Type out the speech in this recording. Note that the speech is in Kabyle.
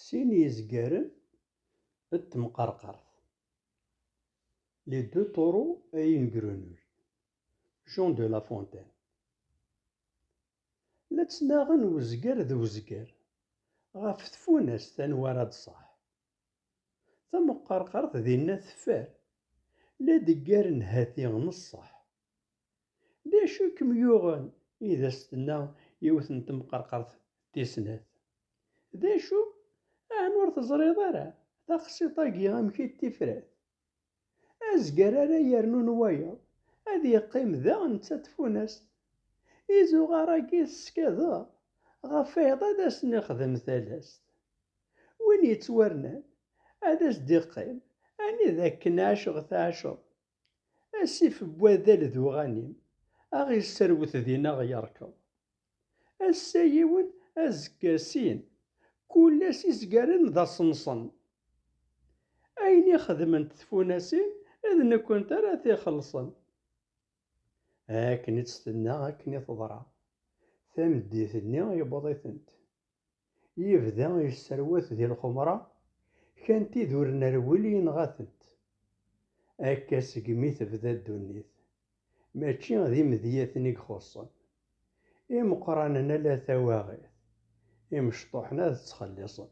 Sin yezgaren d temqerqert, Les deux taureaux et une grenouille, Jean de la Fontaine. La ttnaɣen wezger d wezger ɣef tfunast anwa ara d-tṣaḥ. Tamqerqert dinna teffer, la d-ggaren hati neṣṣeḥ. D acu i kem-yuɣen? i as-tenna yiwet n temqerqert tis snat. D acu? Aɛni ur teẓriḍ ara taqsiṭ-agi amek i d tifrat? Azger ara yernun wayeḍ, ad yeqqim da netta d tfunast. Izuɣar-agi i teskadeḍ, ɣef wayeḍ ad asen-ixdem talast. Win yettwarnan, ad as-d-iqqim anida akken ɛiceɣ tɛiceḍ, Asif n wadal d uɣanim, a ɣ-isserwet din a ɣ-yerkeḍ. Ass-a yiwen, azekka sin, kul ass izgaren d aṣenṣen. Ayen i xedment tfunasin d nekkent ara t-ixellṣen. Akken i tt-tenna akken i teḍra. Tameddit-nni yewweḍ-itent. yebda yesserwat di lxemra, kan tid ur nerwil yenɣa-tent. Akka segmi tebda ddunit, mačči d imedyaten i ixuṣṣen. Imeqqranen ala tawaɣit, imecṭuḥen ad ttxelliṣen.